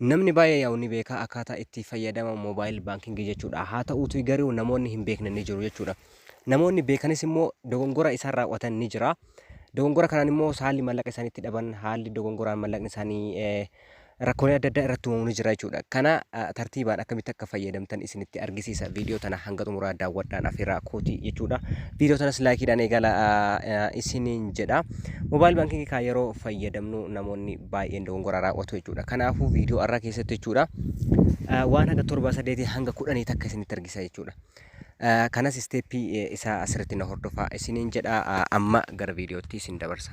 Namni baay'ee yaa'u ni beeka akkaataa itti fayyadama mobile banking jechuudha. Haa ta'uutii garuu namoonni hin beekne ni jiru jechuudha. Namoonni beekanis immoo dogongora isaan raawwatan ni jira. Dogongora kanaan immoo haalli mallaqa isaanii itti dhaban, haalli dogongoraan mallaqni isaanii eh, rakkoolee adda addaa irratti uumamu ni jira jechuudha. Kana ah, tartiibaan akkamitti akka fayyadamtan isinitti argisiisa. Viidiyoo tana hanga xumuraa daawwadhaan afeeraa kooti jechuudha. Viidiyoo tanas laayikiidhaan eegala ah, ah, isiniin jedha. Mobaayil baankingii kaa yeroo fayyadamnu namoonni baay'een dogongora raawwatu jechuudha. Kanaafuu viidiyoo har'aa keessatti jechuudha waan haga torba sadeetii hanga kudhanii takka isinitti argisa jechuudha. Kanas isteeppii isaa asirratti na hordofaa isiniin jedha amma gara viidiyootti isin dabarsa.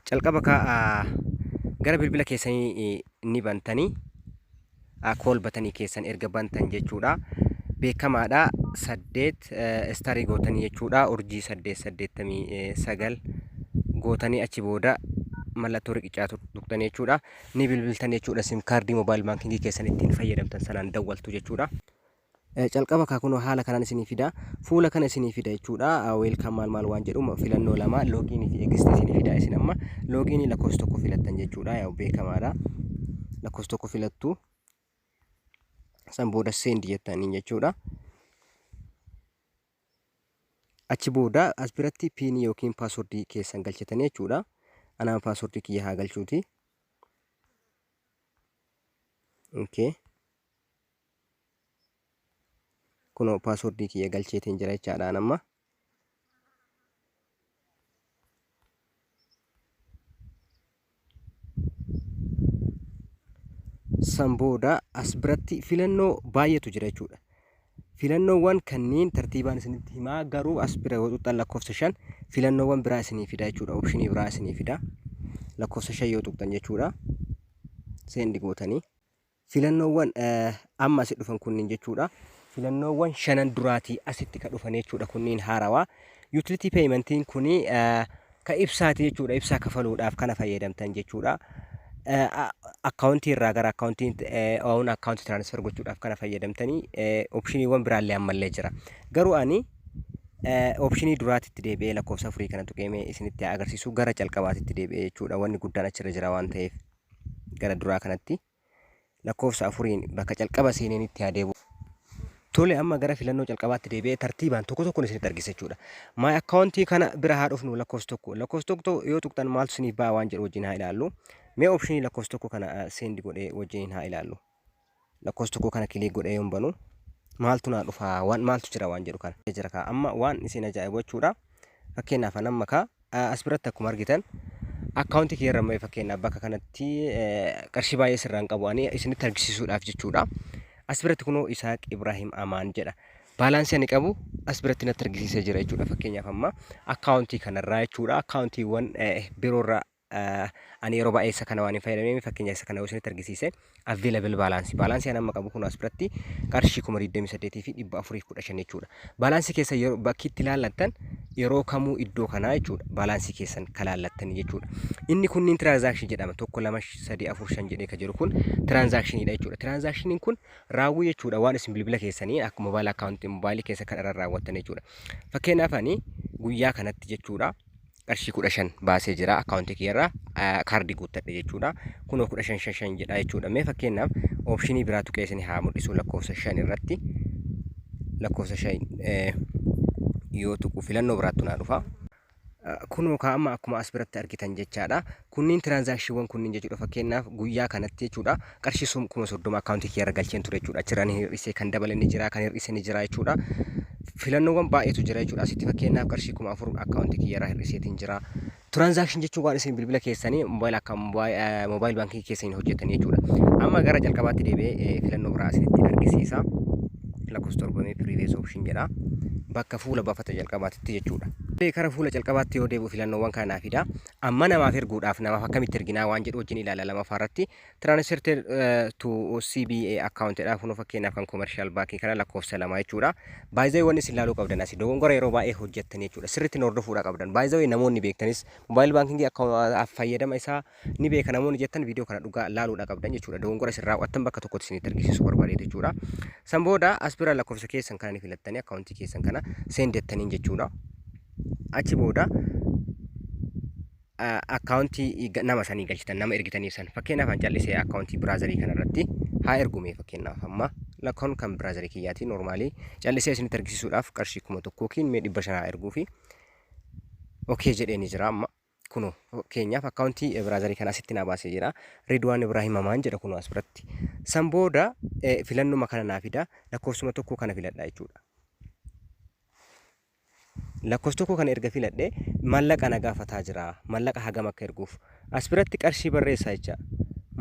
Calqaba kaa gara bilbila keessanii ni bantanii call batanii keessan erga bantan jechuudha beekamaadha saddeet istarii gootanii jechuudha urjii saddeet saddeettamii sagal gootanii achi booda mallattoo riqichaa tuqxanii jechuudha ni bilbiltan jechuudha sim kaardii moobaayil baankingii keessan ittiin fayyadamtan sanaan dawwaltu jechuudha. Calqaba kaa kunoo haala kanaan isinii fida fuula kana isinii fida jechuudha weelkaan maal maal waan jedhu filannoo lama loogiinii fi eegistii isinii fida isin amma loogiinii lakkoofsa tokko filattan jechuudha yaa beekamaadha lakkoofsa tokko filattu san booda seendi jettaniin jechuudha achi booda as biratti piinii yookiin paaswordii keessan galchatanii jechuudha anaan paaswordii kiyya haa galchuuti okay. kunoo paaswordii kiyya galcheetiin jira jechaadhaan amma san booda as biratti filannoo baay'eetu jira jechuudha. Filannoowwan kanneen tartiibaan isinitti himaa garuu as bira yoo tuqxan lakkoofsa shan filannoowwan biraa isinii fida jechuudha. Opshinii biraa isinii fida. Lakkoofsa shan yoo tuqxan jechuudha. Seendi gootanii. Filannoowwan amma asi dhufan kunniin jechuudha. Filannoowwan shanan duraatii asitti ka dhufan jechuudha kunniin haarawaa. Utility paymentiin kuni ka ibsaati jechuudha. Ibsaa kafaluudhaaf kana fayyadamtan jechuudha. Akkaawuntii irraa gara akkaawuntii own akkaawuntii tiraanisfer gochuudhaaf kana fayyadamtanii opshiniiwwan biraallee ammallee jira. Garuu ani opshinii duraatitti deebi'ee lakkoofsa afurii kana tuqeemee isinitti agarsiisu gara calqabaatitti deebi'ee jechuudha. Wanni guddaan achirra jira waan ta'eef. gara duraa kanatti lakkoofsa afuriin bakka calqaba seeneenitti haa deebi'u. Tole amma gara filannoo calqabaatti deebi'ee tartiibaan tokko tokkoon isinitti argisiisa jechuudha. My account kana bira haa dhufnu lakkoofsa tokko. Lakkoofsa tokko yoo tuqxan maaltu isiniif ba'a waan jedhu wajjin haa ilaallu. Mee optionii lakkoofsa tokko kana send godhee wajjin haa ilaallu. lakkoofsa tokkoo kana kiliik godhee yoon banu maaltu naa dhufa waan maaltu jira waan jedhu kana jira kaa amma waan isin ajaa'ibu jechuudha fakkeenyaaf an amma kaa eh, as biratti akkuma argitan akkaawuntii kiyya irra mee fakkeenyaaf bakka kanatti eh, qarshii baay'ee sirraan qabu ani isinitti argisiisuudhaaf jechuudha as biratti kunoo Isaaq Ibraahim Amaan jedha baalaansii ani qabu as biratti natti argisiisee jira jechuudha fakkeenyaaf amma akkaawuntii kanarraa jechuudha akkaawuntiiwwan eh, biroorraa ani yeroo baay'ee isa kana waan hin fayyadamneef fakkeenya isa kana yoo isinitti argisiise available balance balance an amma qabu kun as biratti qarshii kuma 28 fi 415 jechuudha. Balance keessa yeroo bakki itti laallattan yeroo kamuu iddoo kanaa jechuudha. Balance keessan kan laallattan jechuudha. Inni kunniin transaction jedhama. Tokko lama sadii afur shan jedhee kan jiru kun transaction dha jechuudha. Transaction kun raawwii jechuudha waan isin bilbila keessanii akka mobile account mobile keessa kan irra raawwattan jechuudha. Fakkeenyaaf ani guyyaa kanatti jechuudha. qarshii kudha shan baasee jira akkaawuntii kiyyarraa ah, kaardii guuttadhe jechuudha. Kunoo kudha shan shan shan jedha jechuudha. Mee fakkeenyaaf oopshinii biraa tuqee isin haa mul'isu lakkoofsa shan irratti lakkoofsa shan eh, yoo tuqu filannoo biraattu naa dhufa. Ah, Kunoo kaa amma akkuma as biratti argitan jechaadha. Kunniin tiraansaakshiiwwan kunniin jechuudha fakkeenyaaf guyyaa kanatti jechuudha qarshii sum kuma soddoma akkaawuntii kiyya irra galcheen ture jechuudha achirraa ni hir'ise kan dabale ni jira kan hir'ise ni jira jechuudha filannoowwan baay'eetu jira jechuudha asitti fakkeenyaaf qarshii kuma afur akkaawuntii kiyya irraa hir'iseetiin jira tiraansaakshiin jechuun waan isin bilbila keessanii moobaayila akka moobaayil baankii keessaniin hojjetan jechuudha amma gara jalqabaatti deebi'ee filannoo biraa isinitti argisiisa lakkoofsa torbamee piriivees oopshin jedha bakka fuula baafata jalqabaatitti jechuudha. Kara fuula jalqabaatti yoo deebi'u filannoowwan kanaa fida. Amma namaaf erguudhaaf namaaf akkamitti erginaa waan jedhu wajjin ilaalla lamaffaa irratti translated eh, to CBA account jedha kunoo fakkeenyaaf kan commercial bank kana lakkoofsa lama jechuudha. By the way wanni isin ilaaluu qabdan asi dogongora yeroo baay'ee hojjettan jechuudha sirriitti nu hordofuudha qabdan. By the way namoonni beektanis mobile banking akka fayyadama isaa ni beeka namoonni jettan viidiyoo kana dhugaa laaluudha qabdan jechuudha dogongora isin raawwattan bakka tokkotti isinitti argisiisu barbaade jechuudha. San booda as bira lakkoofsa keessan kana ni filattanii akkaawuntii keessan kana seendettaniin jechuudha. achi booda akkaawuntii nama sanii galchitan nama ergitaniif san fakkeenyaaf an callisee akkaawuntii biraazarii kana irratti haa ergume fakkeenyaaf amma lakkoon kan biraazarii kiyyaati noormaalii callisee isinitti argisiisuudhaaf qarshii kuma tokko yookiin mee dhibba shanaa erguu fi okee jedheeni jira amma kuno fakkeenyaaf akkaawuntii biraazarii kana asitti naa baasee jira Ridwaan Ibraahim Amaan jedha kuno as biratti san booda filannuma kana naa fida lakkoofsuma tokko kana filadha jechuudha. Lakkofs tokko kana erga filadhe mallaqa na gaafataa jira. Mallaqa hagam akka erguuf. As biratti qarshii barreessa jecha.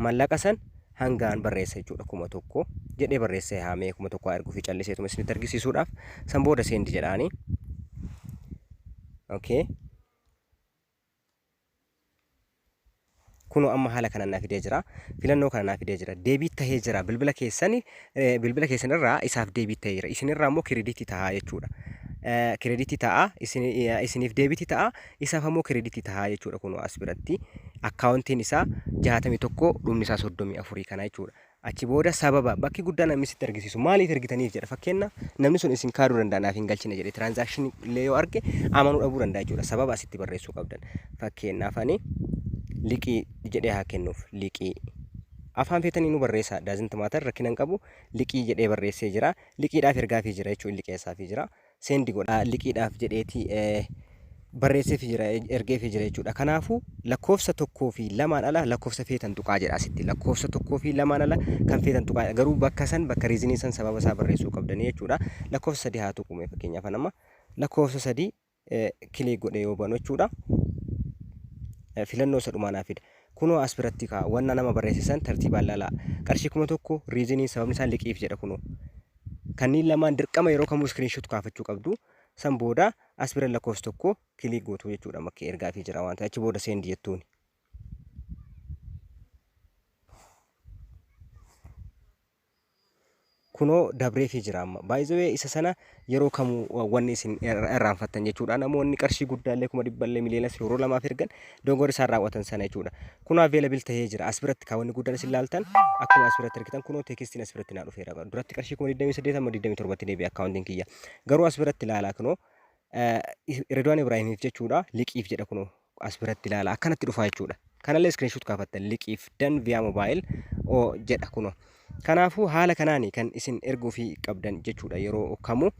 Mallaqa san hangaan barreessa jechuudha kuma tokko jedhee barreessee haamee kuma tokko haa erguufi calliseetuma isinitti argisiisuudhaaf san booda seendi jedhaani. Okay. Kunoo amma haala kanaan naa fidee jira. Filannoo kana naa fidee jira. Deebiit tahee jira. Bilbila keessan eh, bilbila keessan irraa isaaf deebiit tahee jira. Isin irraa immoo kirediitii tahaa jechuudha. Eh, Kirediitii tahaa, isin, eh, isiniif deebiitii tahaa, isaaf ammoo kirediitii tahaa jechuudha kunoo as biratti. Akkaawuntiin isaa 61 dhumni isaa 34 kana jechuudha. Achi booda sababa, bakki guddaa namni sitti argisiisu maaliif ergitaniif jedha. Fakkeenna namni sun isin kaaduu danda'a naaf hin galchine jedhe transaction illee yoo arge amanuu dhabuu danda'a jechuudha. Sababa asitti barreessuu qabdan. Fakkeenyaaf ani liqii jedhee haa kennuuf liqii. Afaan feetanii nu barreessaa doesn't matter rakkina hin qabu liqii jedhee barreessee jira liqiidhaaf ergaafii jira jechuun liqeessaafii jira. send godha liqiidhaaf jedheeti barreesseefi jira ergeefi jira jechuudha. Kanaafuu lakkoofsa tokkoo fi lamaan ala lakkoofsa feetan tuqaa jedha asitti lakkoofsa tokkoo fi lamaan ala kan feetan tuqaa jedha. garuu bakka san bakka riizinii san sababa isaa barreessuu qabdanii jechuudha. Lakkoofsa sadii haa tuqume fakkeenyaaf nama lakkoofsa sadii kilik godhe yoo banu jechuudha. Filannoo isa dhumaa naa fida. Kunoo as biratti kaa wanna nama barreessisan tartiibaan laalaa qarshii kuma tokko riizinii sababni isaa liqiif jedha kunoo. Kanniin lamaan dirqama yeroo kamuu screenshot kaafachuu qabdu. San booda as bira lakkoofsa tokko click gootu jechuudha makkee ergaa fi jira waan ta'e achi booda send jettuuni. kunoo dabree fi jira amma baay'ee isa sana yeroo kamuu wanni isin irraanfattan jechuudha namoonni qarshii guddaallee kuma dhibballee miliyonas yeroo lamaaf ergan dogongora isaan raawwatan sana jechuudha. Kunoo available tahee jira. As biratti kaa wanni guddaan isin laaltan akkuma as biratti argitan kunoo teekistiin as biratti naa dhufeera. Duratti qarshii kuma 28 amma 27tti deebi'e akkaawuntiin kiyya. Garuu as biratti laalaa kunoo Redwaan Ibraahimiif jechuudha liqiif jedha kunoo as biratti laala akkanatti dhufaa jechuudha. Kanallee iskiriinshuut kaafattan liqiif dan viyaa moobaayil oo jedha kunoo. Kanaafuu haala kanaani kan isin erguufii qabdan jechuudha yeroo kamuu.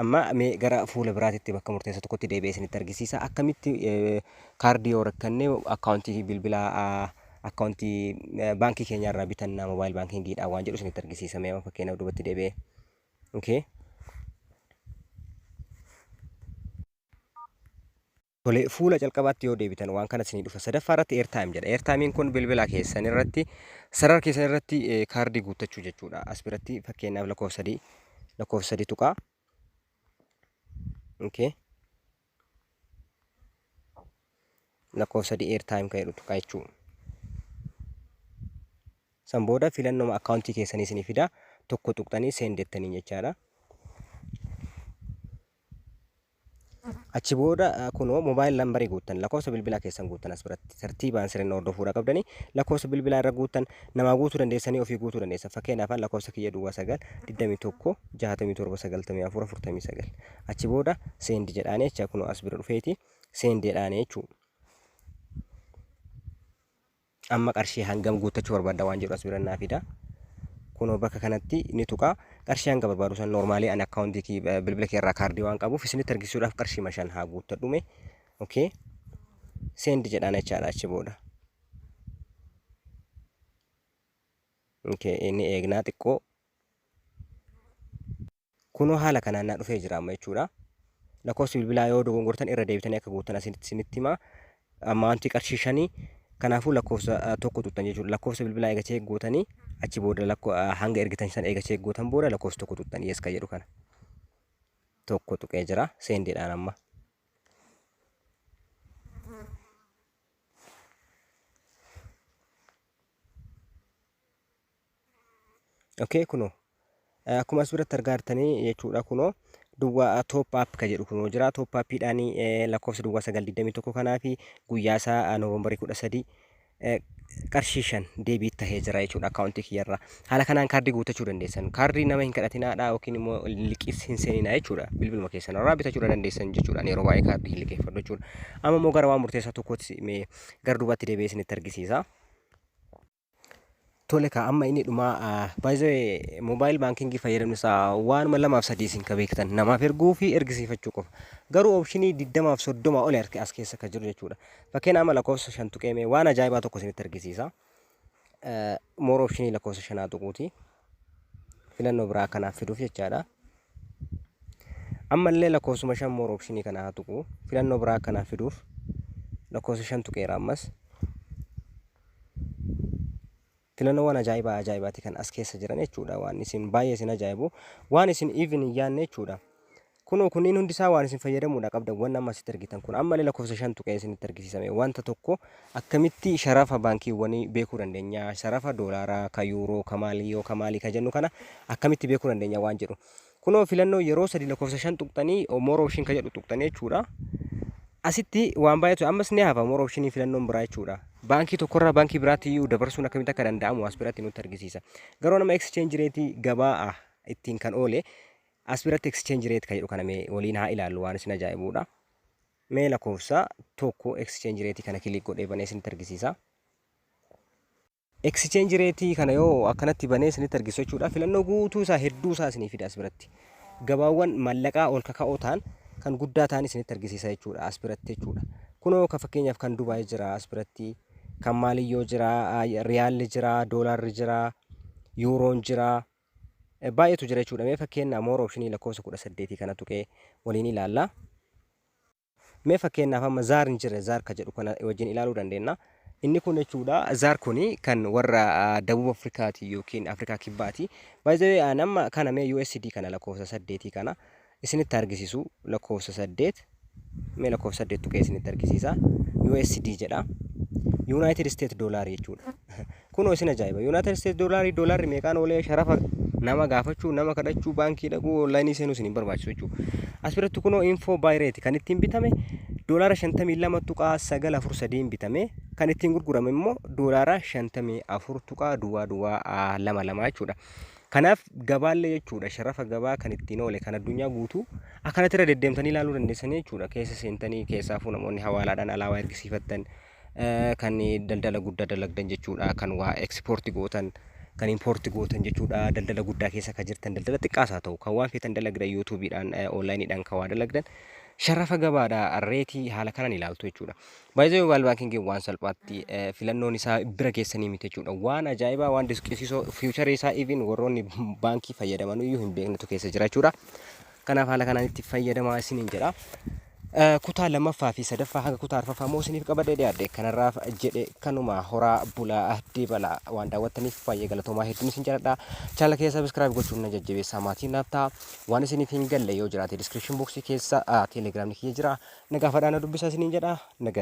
Amma mee gara fuula biraatitti bakka murteessa tokkotti deebi'ee isinitti argisiisa. Akkamitti kaardii yoo rakkanne akkaawuntii bilbila akkaawuntii baankii keenya irraa bitanna moobaayil baankiingiidhaan waan jedhu isinitti argisiisa. Mee amma fakkeenyaaf duubatti deebi'ee. Okay. Tole, fuula calqabaatti yoo deebitan waan kana isinii dhufa. Sadaffaa irratti airtime jedha. Airtime'n kun bilbila keessan irratti, sarara keessan irratti eh, kaardii guuttachuu jechuudha. As biratti fakkeenyaaf lakkoofsa sadii, lakkoofsa sadii tuqaa. Okay. Lakkoofsa sadii airtime kan jedhu tuqaa jechuudha. San booda filannoo akkaawuntii keessanii isinii fida. Tokko tuqxanii seen jettanii jechaadha. Achi booda kunoo mobile number guuttan lakkoofsa bilbilaa keessan guuttan as biratti tartiibaan sirriin hordofuudha qabdanii lakkoofsa bilbilaa irra guuttan namaa guutuu dandeessanii ofii guutuu dandeessa fakkeenyaaf lakkoofsa kiyya duwwaa sagal digdamii tokko jaatamii torba sagaltamii afur afurtamii sagal achi booda seendi jedhaanii jecha kunoo as bira dhufeeti seendi jedhaanii jechuu Amma qarshii hangam guuttachuu barbaadda waan jedhu as bira naa fida. Kunoo bakka kanatti ni tuqa. Qarshii hanga barbaadu san normaalii ani akkaawuntii kee eh, bilbila kee irraa kaardii waan qabuuf isinitti argisiisuudhaaf qarshii ma shan haa guuttadhume. Okay. Seendi jedhaan jechaadha achi booda. Okay, inni eegnaa xiqqoo Kunoo haala kanaan naa dhufee jira amma jechuudha. Lakkoofsi bilbilaa yoo dogongortan irra deebitanii akka guuttan asitti isinitti hima. Ammaantii qarshii shanii kanaafuu lakkoofsa ah, tokko tuttan jechuudha. Lakkoofsa bilbilaa eega cheek gootanii achi booda lakko ah, hanga ergitan san eega cheek gootan booda lakkoofsa tokko tuttan yes ka jedhu kana. Tokko tuqee jira seendiidhaan amma. okay kunoo Eh, akkuma as biratti argaa jirtanii jechuudha kunoo duwwaa top up ka jedhu kunoo jira top up dhaan eh, lakkoofsa duwwaa 921 kanaa fi guyyaa isaa eh, noovembarii 13 eh, qarshii shan deebii tahee jira jechuudha akkaawuntii kiyyarraa haala kanaan kaardii guuttachuu dandeessan kaardii nama hin kadhatinaadha yookiin immoo liqiis hin seeninaa jechuudha bilbiluma keessan irraa bitachuudha dandeessan jechuudha Ani yeroo baay'ee kaardii hin liqeeffadhu jechuudha amma immoo gara waan murteessaa tokkootti mee gara duubaatti deebi'ee isinitti argisiisa Tole kaa amma inni dhumaa by the way mobile banking fayyadamni isaa waanuma lamaaf sadii isin ka beektan namaaf erguu fi ergisiifachuu qofa garuu opshinii digdamaaf soddoma oli arke as keessa ka jiru jechuudha fakkeen amma lakkoofsa shan tuqeemee waan ajaa'ibaa tokko isinitti argisiisa moor opshinii lakkoofsa shanaa tuquuti filannoo biraa kanaaf fiduuf jechaadha ammallee lakkoofsuma shan moor opshinii kana haa tuqu filannoo biraa kanaaf fiduuf lakkoofsa shan tuqeera ammas Filannoowwan ajaa'ibaa ajaa'ibaati kan as keessa jiran jechuudha. Waan isin baay'ee isin ajaa'ibu. Waan isin even hin yaadne jechuudha. Kunoo kunniin hundi isaa waan isin fayyadamuudha qabdan waan amma asitti argitan kun ammallee lakkoofsa shan tuqee isinitti argisiisame wanta tokko akkamitti sharafa baankiiwwanii beekuu dandeenya sharafa doolaaraa ka yuuroo ka maalii yoo ka maalii ka jennu kana akkamitti beekuu dandeenya waan jedhu Kunoo filannoo yeroo sadi lakkoofsa shan tuqxanii more option ka jedhu tuqxanii jechuudha. Asitti waan baay'eetu ammas ni hafa more option filannoon biraa jechuudha. Baankii tokkorraa baankii biraatti iyyuu dabarsuun akkamitti akka danda'amu as biratti nutti argisiisa. Garuu nama exchange rate gabaa ittiin kan oole as biratti exchange rate ka jedhu kana mee waliin haa ilaallu waan isin ajaa'ibuudha. Mee lakkoofsa tokko exchange rate kana kilik godhee banee isinitti argisiisa. Exchange rate kana yoo akkanatti banee isinitti argisu jechuudha. Filannoo guutuu isaa hedduu isaa isinii fida as biratti. Gabaawwan mallaqaa ol kaka'oo ta'an kan guddaa ta'an isinitti argisiisa jechuudha as biratti jechuudha. Kunoo ka fakkeenyaaf kan Dubaay jira as biratti, kan Maaliyyoo jira, Riyaalli jira, Doolaarri jira, Yuuroon jira. Baay'eetu jira jechuudha. Mee fakkeenya moor opshinii lakkoofsa kudha saddeetii kana tuqee waliin ilaalla. Mee fakkeenyaaf amma zaar hin jirre zaar ka jedhu kana wajjin ilaaluu dandeenya. Inni kun jechuudha zaar kuni kan warra ah, Dabub Afrikaati yookiin Afrikaa Kibbaati. By the way an amma kana mee USD kana lakkoofsa saddeetii kana isinitti argisiisu lakkoofsa saddeet mee lakkoofsa saddeet tuqee isinitti argisiisa. USD jedha. United States Dollar jechuudha. Kunoo isin ajaa'iba. United States doolarii doolaarri meeqaan oolee sharafa nama gaafachuu, nama kadhachuu, baankii dhaquu, onlaayinii seenuu isin hin barbaachisu jechuudha. As biratti kunoo info buy rate kan ittiin bitame doolaara 52.943 bitame kan ittiin gurgurame immoo doolaara 54 tuqaa duwwaa duwwaa ah, lama lama jechuudha. Kanaaf gabaallee jechuudha sharafa gabaa kan ittiin oole kan addunyaa guutuu akkanatti irra deddeemtanii ilaaluu dandeessanii jechuudha. Keessa seentanii keessaafuu namoonni hawaalaadhaan alaabaa ergisiifattan Kan daldala guddaa dalagdan jechuudha. Kan waa export gootan, kan import gootan jechuudha. Daldala guddaa keessa kan jirtan, daldala xiqqaas haa ta'u, kan waan feetan dalagdan YouTube dhaan, online dhaan kan waa dalagdan sharafa gabaadha. Reetii haala kanaan ilaaltu jechuudha. By the way, mobile banking waan salphaatti eh, filannoon isaa bira keessanii miti jechuudha. Waan ajaa'ibaa, waan disqisiisoo, future isaa even warroonni baankii fayyadaman iyyuu hin beeknetu keessa jira jechuudha. Kanaaf haala kanaan itti fayyadamaa isiniin jedha. Kutaa lammaffaa fi sadaffaa haga kutaa arfaffaa immoo isiniif qabadhee dhiyaadhe kanarraaf jedhe kanuma horaa bulaa deebala waan daawwattaniif baay'ee galatoomaa hedduun isin jaalladha. Chaanala keessa sabiskiraayib gochuun na jajjabeessaa maatiin naaf ta'a. Waan isiniif hin galle yoo jiraate diskiripshin booksii keessa teelegiraamni kiyya jira. Na gaafadhaa na dubbisaa isiniin jedha. Nagaa